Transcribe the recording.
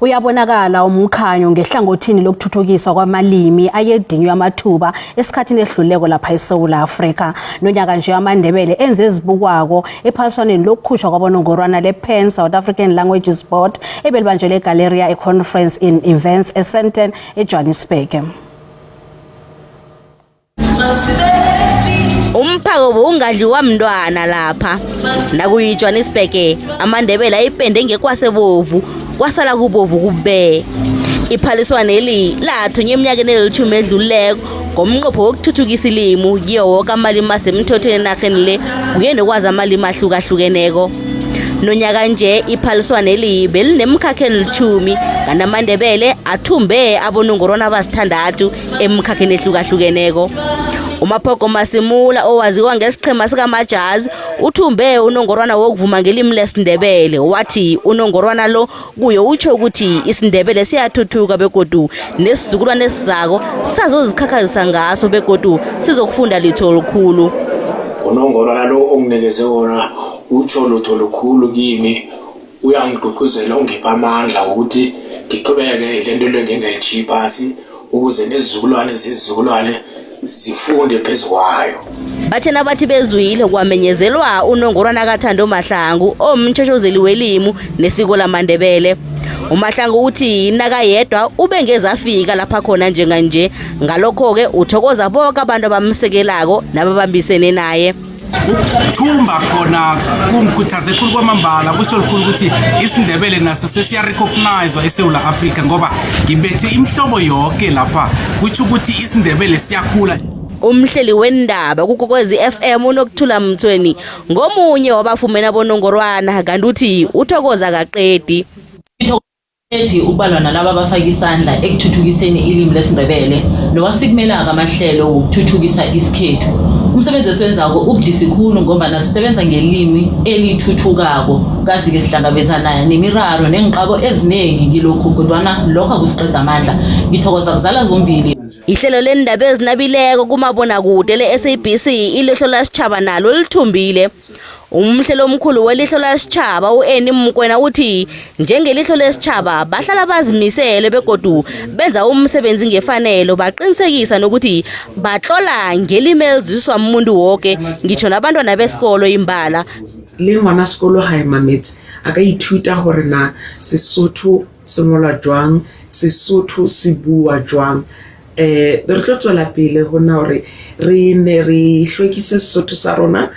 Uyabonakala umkhanyo ngehlangothini lokuthuthukiswa kwamalimi ayedinywe amathuba esikhathini ehluleko lapha eSouth Africa. Nonyaka nje amaNdebele enze ezibukwako ephaliswaneni lokukhutshwa kwabonongorwana le-PAN South African Languages Board ebelibanjelwe eGaleria eConference in Events eSandton eJohannesburg. umphako bowungadliwa mntwana lapha nakuyijohannesburg amandebele ayipende ngekwasebovu kwasala kubovu kube iphaliswaneli lathunywa eminyakeni elithumi edluleko ngomnqopho wokuthuthukisa ilimu kiyo woke amalimi asemthethweni enarheni le kuye nokwazi amalimi ahlukahlukeneko nonyaka nje iphaliswaneli belinemkhakha elithumi kanti amandebele athumbe abonongorwana abasithandathu emkhakheni ehlukahlukeneko umaphogo masimula owaziwa ngesiqhema sikamajazi uthumbe unongorwana wokuvuma ngelimi lesindebele wathi unongorwana lo kuye utsho ukuthi isindebele siyathuthuka begodu nesizukulwane esizako sazozikhakhazisa ngaso begodu sizokufunda litho olukhulu unongorwana lo onginikeze wona utsho lutho lukhulu kimi uyangigqugquzela ungipha amandla ukuthi ngiqhubeke lento le ngingayitshiyi phasi ukuze nezizukulwane zezizukulwane zifunde phezu kwayo bathe nabathi bezwile kwamenyezelwa unongorwana kathando mahlangu omtshotshozeli welimu nesiko lamandebele umahlangu uthi nakayedwa ube ngezafika lapha khona njenganje ngalokho-ke uthokoza boke abantu abamsekelako nababambisene naye ukuthumba khona kungikhuthaze khulu kwamambala kusho likhulu ukuthi isindebele naso sesiyarecognizwa esewula afrika ngoba ngibethe imihlobo yoke lapha kutsho ukuthi isindebele siyakhula umhleli wendaba kukokwezi FM unokuthula mthweni ngomunye wabafumena bonongorwana kanti uthi uthokoza kaqedi Edi ubalwa nalaba abafaka isandla ekuthuthukiseni ilimi lesiNdebele nowasikumelako amahlelo wokuthuthukisa isikhethu. Umsebenzi esiwenzako ubudisi khulu ngombana sisebenza ngelimi elithuthukako kazi-ke sihlangabezana nemiraro neenqabo ezinengi kilokhu kodwana lokho akusiqeda amandla. Ngithokoza kuzala zombili. Ihlelo leendaba ezinabileko kumabonakude le-SABC ilihlo lasitjhaba nalo lithumbile. umhlelo omkhulu welihlo lesitjhaba u-eni mkwena uthi njengelihlo lesitjhaba bahlala bazimisele begodu benza umsebenzi ngefanelo baqinisekisa nokuthi batlola ngelimi eliziswa muntu woke ngitsho nabantwana besikolo imbala le ngwana sekolo ga emametse a ka ithuta gore na sesotho se ngolwa jwang sesotho se bua jwang eh re tlo tswela pele go na gore re ne re hlwekise sesotho sa rona